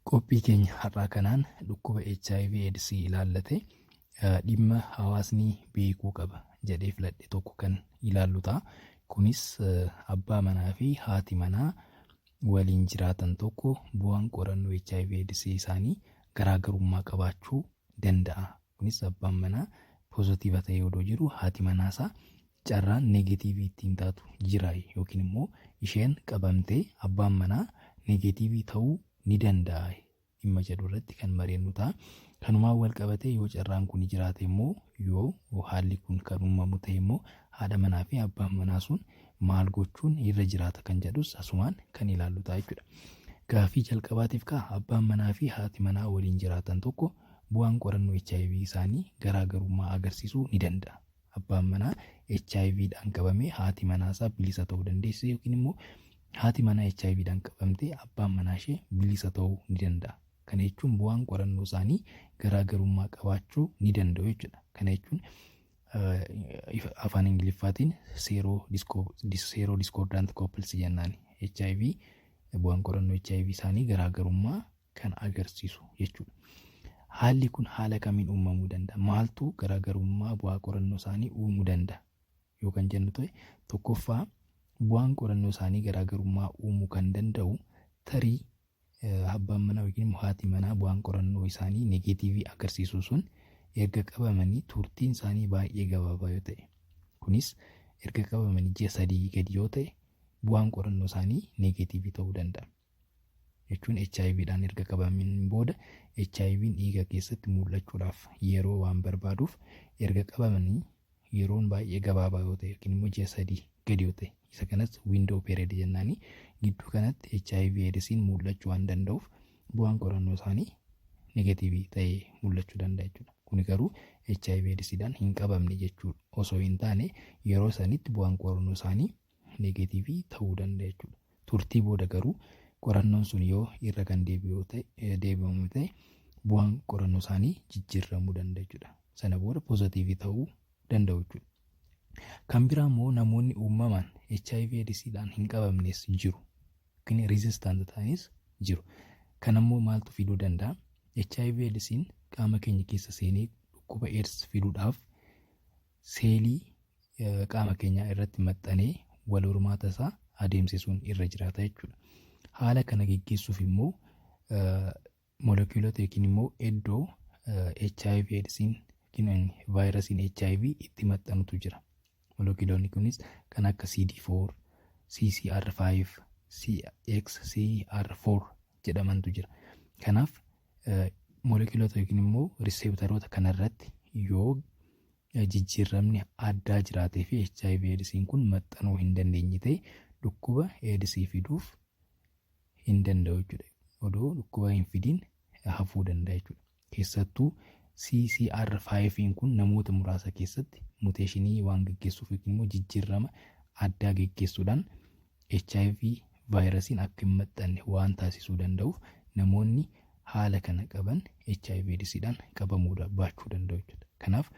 Qophii keenya har'aa kanaan dhukkuba HIV AIDS ilaallate dhimma hawaasni beekuu qaba jedhee filadhe tokko kan ilaallu ta'a. Kunis abbaa manaa fi haati manaa waliin jiraatan tokko bu'aan qorannoo HIV AIDS isaanii garaagarummaa qabaachuu danda'a Kunis abbaan manaa pozatiiva ta'ee odoo jiru haati manaa isaa carraan neegatiivii ittiin taatu jira yookiin immoo isheen qabamtee abbaan manaa neegatiivii ta'uu ni danda'a dhimma jedhu irratti kan mareennu ta'a. Kanumaan wal qabatee yoo carraan kun jiraate immoo yoo haalli kun kan uumamu ta'e immoo haadha manaa fi abbaan manaa sun maal gochuun irra jiraata kan jedhus asumaan kan ilaallu ta'a jechuudha. Gaaffii jalqabaatiif kaa abbaan manaa fi haati manaa waliin jiraatan tokko Bu'aan qorannoo hiv isaanii garaa garummaa agarsiisuu ni danda'a. Abbaan manaa hiv dhaan qabame haati manaa isaa bilisa ta'uu dandeessi yookiin immoo haati manaa hiv dhaan qabamte abbaan manaa ishee bilisa ta'uu ni danda'a. Kana jechuun bu'aan qorannoo isaanii garaa garummaa qabaachuu ni danda'u jechuudha. Kana jechuun afaan Ingiliffaatiin seeroo diskoordaant kooppilsi jennaan hiv bu'aan qorannoo hiv isaanii garaa garummaa kan agarsiisu jechuudha. Haalli kun haala kamiin uumamuu danda'a? Maaltu garaagarummaa bu'aa qorannoo isaanii uumuu danda'a? Yoo kan jennu ta'e tokkoffaa bu'aan qorannoo isaanii garaagarummaa uumuu kan danda'u tarii abbaan manaa yookiin haati manaa bu'aan qorannoo isaanii negeetiivii agarsiisu sun erga qabamanii turtiin isaanii baay'ee gabaabaa yoo ta'e kunis erga qabamanii ji'a sadii gadi yoo ta'e bu'aan qorannoo isaanii negeetiivii ta'uu danda'a. jechuun hiv dhaan erga qabameen booda HIVn dhiiga keessatti mul'achuudhaaf yeroo waan barbaaduuf erga qabamanii yeroon baay'ee gabaabaa yoo ta'e yookiin immoo ji'a sadii gadi yoo ta'e isa kanas window period jennaanii gidduu kanatti HIV AIDSiin mul'achuu waan danda'uuf bu'aan qorannoo isaanii negatiivii ta'ee mul'achuu danda'a jechuudha. Kuni garuu HIV AIDSiidhaan hin qabamne jechuudha. Osoo hin taane yeroo sanitti bu'aan qorannoo isaanii neegatiivii ta'uu danda'a jechuudha. Turtii booda garuu qorannoon sun yoo irra kan deebi'u ta'e deebi'amu ta'e bu'aan qorannoo isaanii jijjiiramuu danda'a jechuudha. Sana booda poozatiivii ta'uu danda'u jechuudha. Kan biraa immoo namoonni uumamaan HIV AIDSidhaan hin qabamnes jiru. Yookiin rizistaant ta'anis jiru. Kan ammoo maaltu fiduu danda'a? HIV AIDSiin qaama keenya keessa seenee dhukkuba AIDS fiduudhaaf seelii qaama keenyaa irratti maxxanee wal hormaata isaa adeemsisuun irra jiraata jechuudha. Haala kana geggeessuuf immoo molekiyuulota yookiin immoo iddoo HIV eedsiin yookiin vaayirasiin HIV itti maxxanutu jira. Molekiyuulonni kunis kan akka CD4, CCR5, CXCR4 jedhamantu jira. Kanaaf Molekiyuulota yookiin immoo riseeptaroota kanarratti yoo jijjiirramni addaa jiraatee fi HIV eedisiin kun maxxanuu hin dandeenye ta'e dhukkuba eedisii fiduuf hin danda'u jechuudha. Odoo dhukkuba hin fidiin hafuu danda'a jechuudha. Keessattuu CCR5 kun namoota muraasa keessatti muteeshinii waan geggeessuuf yookiin immoo jijjiirrama addaa geggeessuudhaan hiv vaayirasiin akka hin maxxanne waan taasisuu danda'uuf namoonni haala kana qaban hiv eedisiidhaan qabamuu da- baachuu danda'u jechuudha. Kanaaf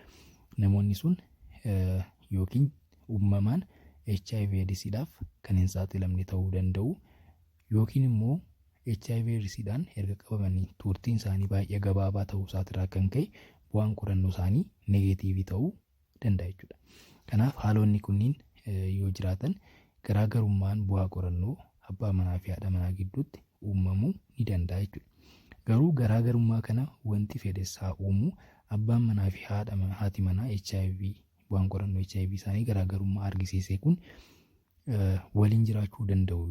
namoonni sun eh, yookiin uumamaan hiv eedisiidhaaf kan hin saaxilamne ta'uu danda'u yookiin immoo hiv eedisiidhaan erga qabamanii turtiin isaanii baay'ee gabaabaa ta'uu isaatirraa kan ka'e bu'aan qorannoo isaanii negeetiivii ta'uu danda'a jechuudha. Kanaaf haalonni kunniin yoo jiraatan garaagarummaan bu'aa qorannoo abbaa manaa fi haadha manaa gidduutti uumamuu ni danda'a jechuudha. Garuu garaagarummaa kana wanti fedhes haa uumu abbaan manaa fi haadha manaa haati manaa HIV bu'aan qorannoo HIV isaanii garaagarummaa argisiisee kun waliin jiraachuu danda'u.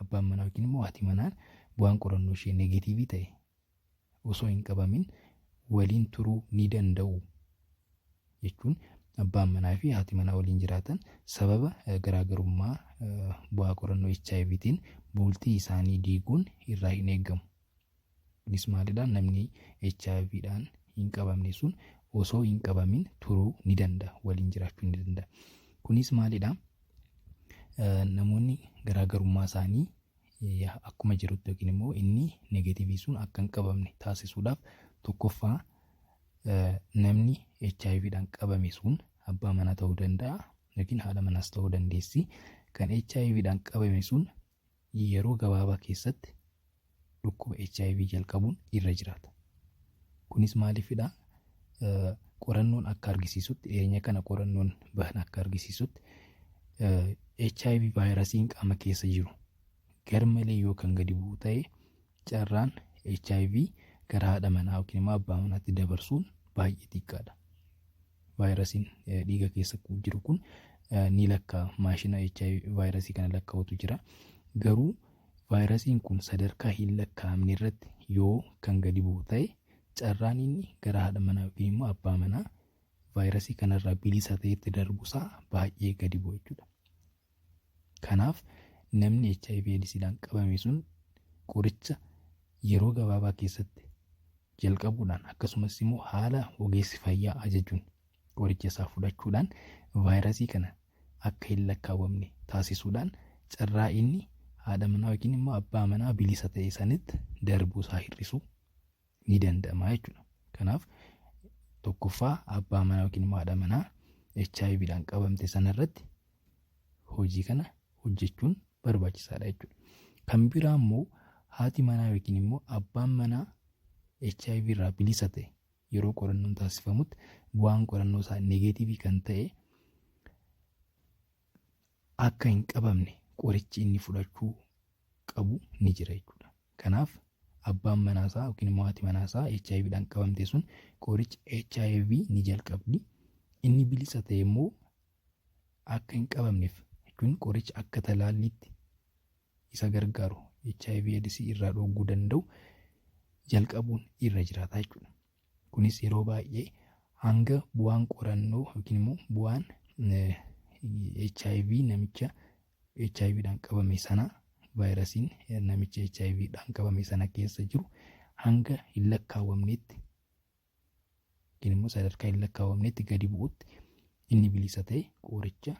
Abbaan manaa yookiin immoo haati manaa bu'aan qorannoo ishee negatiivii ta'e osoo hin qabamin waliin turuu ni danda'u jechuun abbaan manaa fi haati manaa waliin jiraatan sababa eh, garaagarummaa eh, bu'aa qorannoo HIVtiin bultii isaanii diiguun irraa hin eegamu. Kunis maalidha namni hiv dhaan hin qabamne sun osoo hin qabamin turuu ni danda'a waliin jiraachuu ni danda'a. Kunis maalidha namoonni garaagarummaa isaanii akkuma jirutti yookiin immoo inni negeetivii sun akka hin qabamne taasisuudhaaf tokkoffaa namni hiv dhaan qabame sun abbaa manaa ta'uu danda'a yookiin haadha manaas ta'uu dandeessi. Kan hiv dhaan qabame sun yeroo gabaabaa keessatti dhukkuba HIV jalqabuun irra jiraata. Kunis maaliifidha? Eh, Qorannoon akka argisiisutti, dhiyeenya kana qorannoon bahan akka argisiisutti eh, HIV vaayirasiin qaama keessa jiru garmalee yoo kan gadi bu'u ta'e carraan hiv gara haadha manaa yookiin immoo abbaa manaatti dabarsuun baay'ee xiqqaadha. Vaayirasiin dhiiga keessa jiru kun ni lakkaa maashina hiv vaayirasii kana lakkaa'utu jira. Garuu vaayirasiin kun sadarkaa hin lakkaa'amne irratti yoo kan gadi bu'u ta'e carraan inni gara haadha manaa yookiin immoo abbaa manaa vaayirasii kanarraa bilisa ta'etti darbusaa baay'ee gadi bu'a jechuudha. Kanaaf namni hiv eedisiidhaan qabame sun qoricha yeroo gabaabaa keessatti jalqabuudhaan akkasumas immoo haala ogeessi fayyaa ajajuun qoricha isaa fudhachuudhaan vaayirasii kana akka hin lakkaawwamne taasisuudhaan carraa inni haadha manaa yookiin immoo abbaa manaa bilisa ta'e sanitti darbuu isaa hir'isuu ni danda'ama jechuudha. Kanaaf tokkoffaa abbaa manaa yookiin immoo haadha manaa HIV dhaan qabamte sanarratti hojii kana hojjechuun barbaachisaadha jechuudha. Kan biraa immoo haati manaa yookiin immoo abbaan manaa HIV irraa bilisa ta'e yeroo qorannoon taasifamutti bu'aan qorannoo isaa negeetiivii kan ta'e akka hin qabamne qorichi inni fudhachuu qabu ni jira jechuudha. Kanaaf abbaan manaa isaa yookiin immoo haati manaa isaa HIV dhaan qabamte sun qoricha HIV ni jalqabdi. Inni bilisa ta'e immoo akka hin qabamneef jechuun qoricha akka talaalliitti isa gargaaru HIV eedsii irraa dhooguu danda'u jalqabuun irra jiraata jechuudha. Kunis yeroo baay'ee hanga bu'aan qorannoo yookiin immoo bu'aan HIV namicha HIV dhaan qabame sana vaayirasiin namicha HIV dhaan qabame sana keessa jiru hanga hin lakkaawwamnetti yookiin immoo sadarkaa hin lakkaawwamnetti gadi bu'utti inni bilisa ta'e qoricha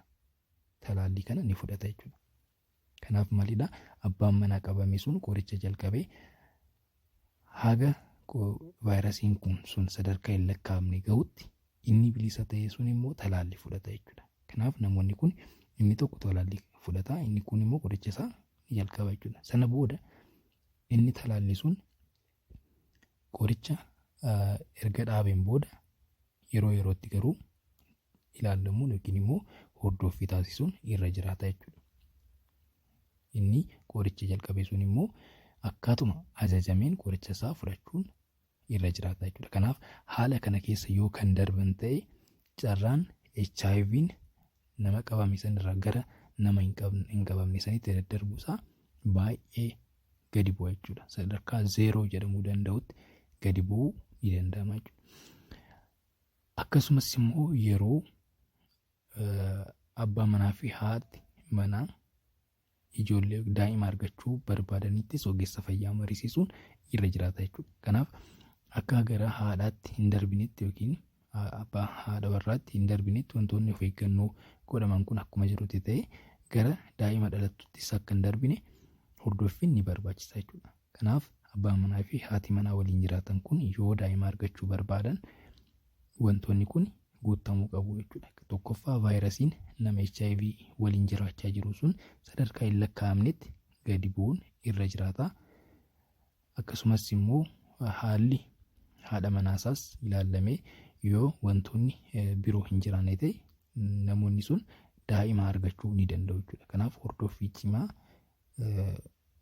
talaallii kana ni fudhata jechuudha. Kanaaf maalidha abbaan manaa qabame sun qoricha jalqabee haga vaayirasiin kun sun sadarkaa hin lakkaa'amne gahutti inni bilisa ta'e sun immoo talaalli fudhata jechuudha. Kanaaf namoonni kun inni tokko talaalli fudhata inni kun immoo qoricha isaa ni jalqaba jechuudha. Sana booda inni talaalli sun qoricha erga dhaabeen booda yeroo yerootti garuu ilaallamuun yookiin immoo hordoffii taasisuun irra jiraata jechuudha. Inni qoricha jalqabe sun immoo akkaatuma ajajameen qoricha isaa fudhachuun irra jiraata jechuudha. Kanaaf haala kana keessa yoo kan darban ta'e carraan HIV'n nama qabame sanirraa gara nama hin qabne- hin qabamne sanitti daddarbuu isaa baay'ee gadi bu'a jechuudha. Sadarkaa zeeroo jedhamuu danda'utti gadi bu'uu ni danda'ama jechuudha. Akkasumas immoo yeroo abbaa manaa fi haati manaa ijoollee daa'ima argachuu barbaadaniittis ogeessa fayyaa mariisisuun irra jiraata jechuudha. Kanaaf akka gara haadhaatti hin darbinetti yookiin abbaa haadha warraatti hin darbinetti wantoonni of eeggannoo godhaman kun akkuma jirutti ta'e gara daa'ima dhalattuttis akka hin darbine hordoffiin ni barbaachisa jechuudha. Kanaaf abbaan manaa fi haati manaa waliin jiraatan kun yoo daa'ima argachuu barbaadan wantoonni kun guuttamuu qabu jechuudha. Tokkoffaa vaayirasiin nama HIV waliin jiraachaa jiru sun sadarkaa hin lakkaa'amnetti gadi bu'uun irra jiraata. Akkasumas immoo haalli haadha manaasaas ilaallamee yoo wantoonni biroo hin jiraanne ta'e namoonni sun daa'ima argachuu ni danda'u jechuudha. Kanaaf hordoffii cimaa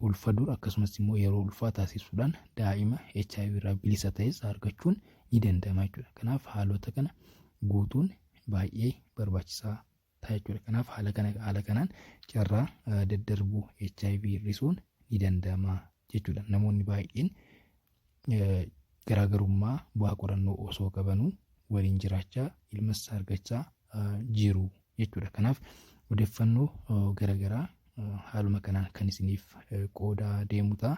ulfa dura akkasumas immoo yeroo ulfaa taasisuudhaan daa'ima HIV irraa bilisa ta'es argachuun ni danda'ama jechuudha. Kanaaf haalota kana guutuun baay'ee barbaachisaa ta'a jechuudha. Kanaaf haala kana haala kanaan carraa daddarbuu HIV hir'isuun ni danda'ama jechuudha. Namoonni baay'een garaagarummaa bu'aa qorannoo osoo qabanuu waliin jiraachaa ilmas argachaa jiru jechuudha. Kanaaf odeeffannoo garaagaraa haaluma kanaan kan isiniif qoodaa deemu ta'a.